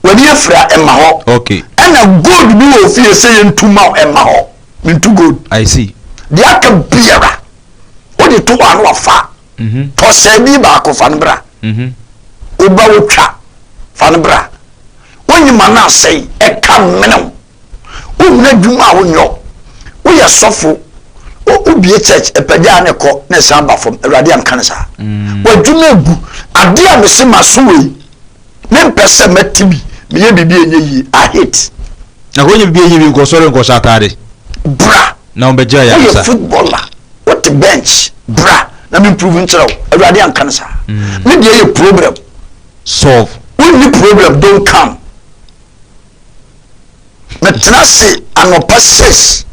W'ani afira, ɛmma hɔ. Okay. Ɛna gold bi wɔ ofie sɛ yɛntu ma wo, ɛmma hɔ. Mentu gold. I see. Deɛ aka biara wode to hɔ a na wafa a, mm-hmm. tɔ sɛɛbi baako fa no bra. Mm-hmm. Woba wotwa fa no bra. Wonyima no asɛe ɛka mmenew. Wohunu adwuma a wonyɔ. Woyɛ sɔfo. Wobie church ɛpɛgya a na ɛkɔ na ɛsan ba fam. Awurade anka no saa. Mm. W'adwuma egu. Adeɛ a mese ma so wei. mempɛ sɛ mɛte bi meyɛ biribi a ɛnyɛ yie I hate. Na kɔ nyɛ biribi a ɛnyɛ yie nkɔ sɔre nkɔhyɛ ataade. Bra na wɔbɛgyaa yɛn ansa. Woyɛ footballer wote bench bra na me improve nkyerɛ wo awurade anka no saa. Mm. Me deɛ yɛ problem solve. Wonni problem don't come. Metena ase anɔpa six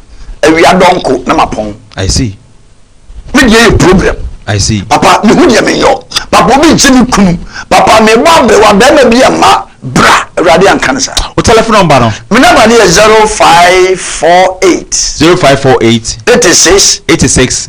awia dɔnko na mapɔn. I see. Me deɛ yɛ problem. I see. Papa mehu deɛ menyɛ o. Papa obi nkye me kunu. Papa mebɔ aberewa bɛrima bi ɛma bra awurade anka ne saa. O telephone number no? Me number no yɛ zero five four eight. Zero five four eight. Eighty six. Eighty six.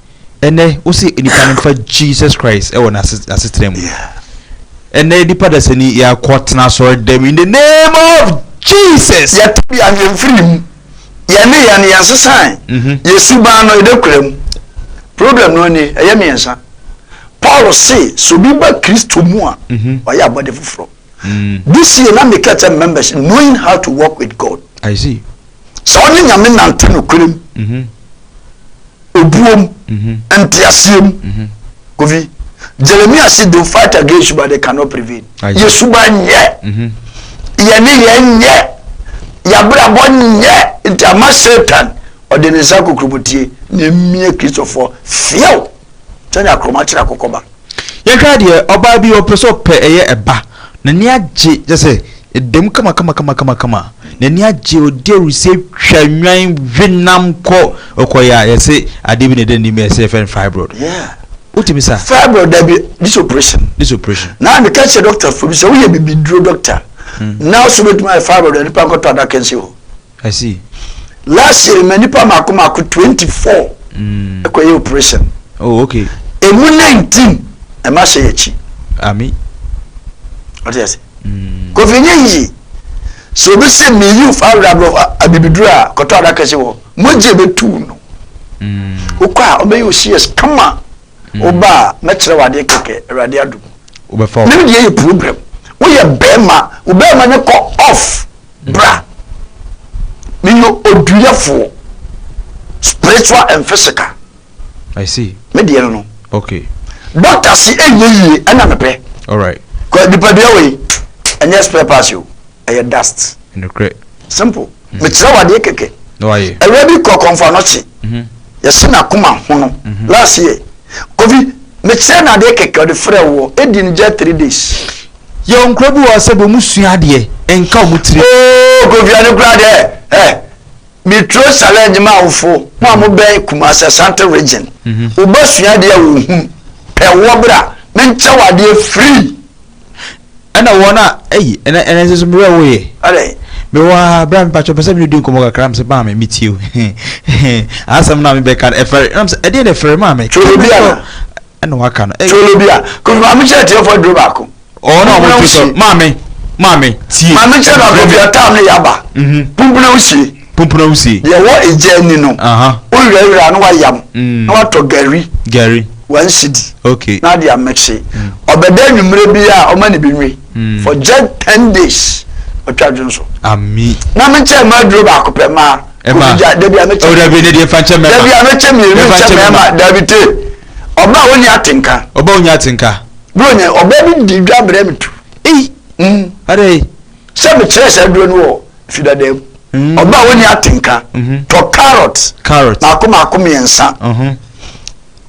Ɛnɛ wose nipa no mfa Jesus Christ ɛwɔ n'asetena mu. Ɛnɛ nipa dasani yɛakɔ tena asɔre dɛm in the name of Jesus. Yɛte bi a yɛmfiri mu. Yɛne yɛn yɛn sesan mhm. yɛ suban no ɛdɛ kura mu. Problem no ni ɛyɛ mmiɛnsa. Paul se sɛ obi ba Kristo mu a mhm. ɔyɛ abɔde foforɔ. This year na mekɛ sɛ members knowing how to work with God. I see. Sɛ ɔne nyame nante nokorɛ mu. Mm-hmm. Obuo mu. Mm-hmm. Nteaseɛ mu. Mm-hmm. Kofi. Jeremiah said they fight against you but they cannot prevail. Yɛ suba nyɛ. Yɛne yɛ nyɛ. Yɛabrabɔ nyɛ. Nti ama Satan ɔde ne nsa kokurobotie na mmie Kristofoɔ fiew. Kyɛ nya korɔma kyerɛ akokɔ ba. Yɛnhwɛ adeɛ, ɔbaa bi ɔpɛ sɛ ɔpɛ ɛyɛ ɛba, n'ani agye kyerɛ sɛ ɛda mu kamakamakama, n'ani agye, ɔdi ahurisie twa nnwan we nam kɔ, ɔkɔyɛ a yɛse adeɛ bi na ɛda n'anim ɛsɛ yɛfrɛ no fibroid. Wotumi sa? Fibroid dabi, this operation. This operation. Na meka kyerɛ doctor fo bi sɛ woyɛ bibiduro doctor, nurse bɛtumi ayɛ fibroid a nipa nkɔtɔ adaka nsi hɔ. I see. Last year ma nipa mako mako twenty four ɛkɔ yɛ operation. Oh okay. Emu nineteen ɛma hyɛ yɛ akyi. Ami. Ɔte yɛ se. Kofi nye yiye. So obi se mi yi fa awura bro abibiduro a kɔtɔ adaka si wɔ mo gye bɛ tu no. Wokɔ a ɔbɛyɛ osias kama. Woba a mɛkyerɛ wadeɛ kɛkɛ awurade adum. Wobɛfa. Mimi deɛ yɛ program. Woyɛ bɛrima wo bɛrima ne kɔ off. Bra, meyɛ oduyɛfoɔ, spiritual and physical. I see. Me deɛ no no. Okay. Doctor si ɛnyɛ yie ɛna mepɛ. Alright. Kɔ nipadua wei ɛnyɛ spare parts o ɛyɛ dust. Nukurɛ. Simple. Mm. Mekyerɛ wadeɛ kɛkɛ. Na wayɛ. Ɛwɛ bi kɔ kɔnfa nɔkye. Mm-hmm. Yɛsi na kuma ho no. Mm-hmm. Last year. Kofi mekyerɛ na adeɛ kɛkɛ ɔde frɛ wɔ edi ne gya three days. Yɛwɔ nkorɔfo bi wɔ hɔ sɛ deɛ ɔmo sua adeɛ nka ɔmo tiri. Ooh Kofi ɛno koraa deɛ eh me turo challenge m'awofo mo a mo bɛn Kumasi Asante region wo ba sua adeɛ a ɔhunu pɛ wɔ bra me nkyɛ wo adeɛ free. Ɛna wɔn a ɛyi ɛna ɛna nso mo werɛ woyɛ. Adɛn. Me wɔ ha bra me patro pɛ sɛ me di nkɔmɔ kakra me sɛ baa me me tie o asɛm na me bɛka ɛfɛre ɛna me sɛ ɛdeɛ na ɛfɛre maa me. Turo bi ana. Ɛna waka no. Ɛyɛ. Tolo bi a. Kofi maame kyerɛ atiefoɔ aduro baako. Ɔwɔ na wɔn ti sɔ maame maame tie. Maame kyerɛ baako Kofi atam ne yaba. Mhm. Pumpuna wusie. Pumpuna wusie. Deɛ ɛwɔ egya ani no. Aha. Wowirawira na wayam. Mm. Na watɔ gari. Gari. Wɔn si di. Okay. Na adi amekye. Mm. Ɔbɛda enyimire bi a ɔma ne bi nwi. Mm. For just ten days. Ɔtwa dwonso. Ami. Maame kyerɛ mmaa aduro baako pɛ mmaa. ɛma ɛgya dabi a mɛkyɛ ɔdabi ne deɛ fa nkyɛ mɛma dabi a mɛkyɛ mmienu nkyɛ mɛma dabi te ɔba a ɔnya atenka ɔba a ɔnya atenka bro nya ɔba bi di dwa brɛ me tu ei mm. adai sɛ mekyerɛ saa duro no wɔ fidada mu mm. ɔba a ɔnya atenka mm-hmm. tɔ carrot carrot maako maako mmiɛnsa mm-hmm.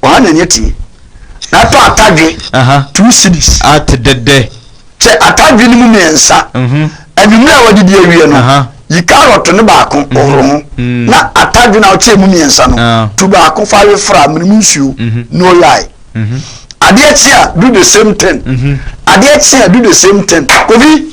Ɔha na nya tumi. Na ɛtɔ atadwe two cities. Ate dɛdɛ. Kyɛ atadwe no mu mmiɛnsa. Anwummerɛ a wɔde di awie no, yi carrot no baako hohoro ho, na atadwe no a wokyɛɛ mu mmiɛnsa no, tu baako fa we fra, mene mu nsuo, na oyae. Adeɛ kye a, do the same thing. Adeɛ kye a, do the same thing. Kofi!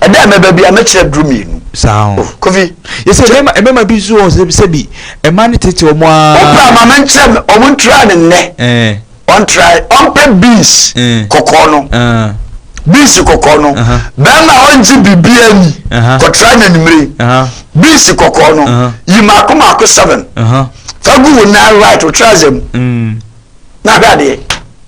Ɛda a mɛba bia mɛkyerɛ duro mmienu. Saa o. Oh, Kofi. Yɛsɛ mmarima mmarima bi nso wɔn sɛ sɛ bi mmaa no tete wɔn aa. Wopra maame nkyerɛ me wɔn ntura ne nnɛ. Ɛɛ. Ɔntra ɔmpɛ beans kɔkɔɔ no. Beans kɔkɔɔ no. Bɛrima ɔngye biribiara ni. Kɔtra na nimire. Beans kɔkɔɔ no. Yi mako mako seven. Fagu wo nan right wo tra zɛ mu. Na ahwɛ adeɛ.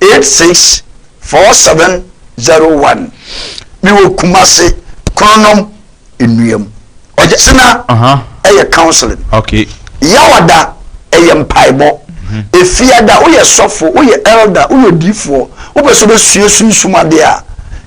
eight six four seven zero one mi wɔ Kumasi Kronom Nnuam Ɔkyena ɛyɛ counseling okay Yawada ɛyɛ mpaebɔ mhm. Efiada woyɛ sɔfo woyɛ elder woyɛ odiifoɔ wopɛ sɛ wobɛsua sunsum adeɛ a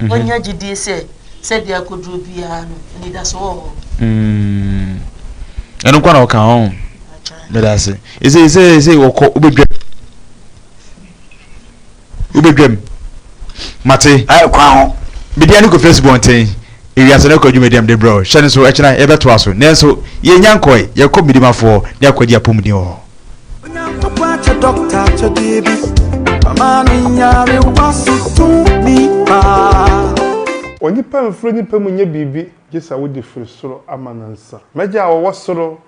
Wɔanya gyedie sɛ sɛdeɛ akɔduro biara no, anidasoɔ wɔ hɔ. Ɛno nko na ɔka ho. Meda ase. Ɛsɛ ɛsɛ ɛsɛ wɔkɔ wobɛdwam. Wobɛdwam. Mate. Ayɛ kwan ho. Media ne kɔ fesi bɔnten. Ewiase no kɔ adwuma diam de brɛ. Hyɛ no so ɛkyena yɛbɛtoa so. Nanso yɛnya nkɔe. Yɛkɔ Midimafoɔ ne akɔgye apɔmuden wɔ hɔ. Onyankopɔn akyɛ dɔkta akyɛdeɛ bi ama no nyarewa so tumi paa. Onipa mfiri onipa mu nyɛ biribi gye sɛ wode firi soro ama no nsa. M'Agya a ɔwɔ soro,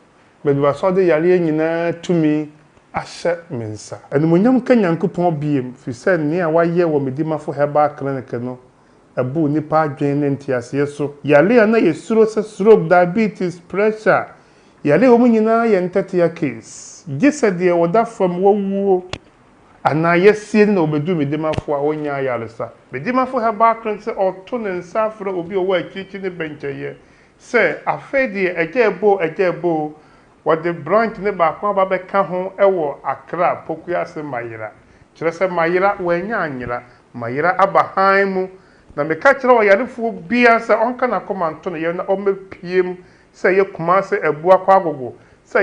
baabi baasa a ɔde yareɛ nyinaa tumi ahyɛ me nsa. Animuonyam nka Nyankopɔn biom, firi sɛ nea wayɛ wɔ me Dimafo Herbal Clinic no abu nnipa adwene ne nteaseɛ so. Yareɛ a na yɛsuro sɛ stroke, diabetes, pressure, Yare a ɛwɔ mu nyinaa yɛ ntɛtea case, gye sɛ deɛ ɔda fam, wawuo, anaa yɛasie no na ɔbɛduru me dimafo a ɔnyɛ ayaresa. Me dimafo herbal cleanser ɔto ne nsa afrɛ obi a ɔwɔ akyirikyiri ne bɛnkyɛeɛ sɛ, afei deɛ agya ɛbɔ o, agya ɛbɔ o, wɔde branch no baako aba bɛka ho wɔ Accra, Poku ase Mayera. Kyerɛ sɛ Mayera, wɔannya anyera. Mayera aba hann mu Na meka kyerɛɛ ɔyarefoɔ biara sɛ ɔnka n'akoma nto ne yam na ɔmmɛpue mu sɛ ɛyɛ Kumasi Abua Kwagogo sɛ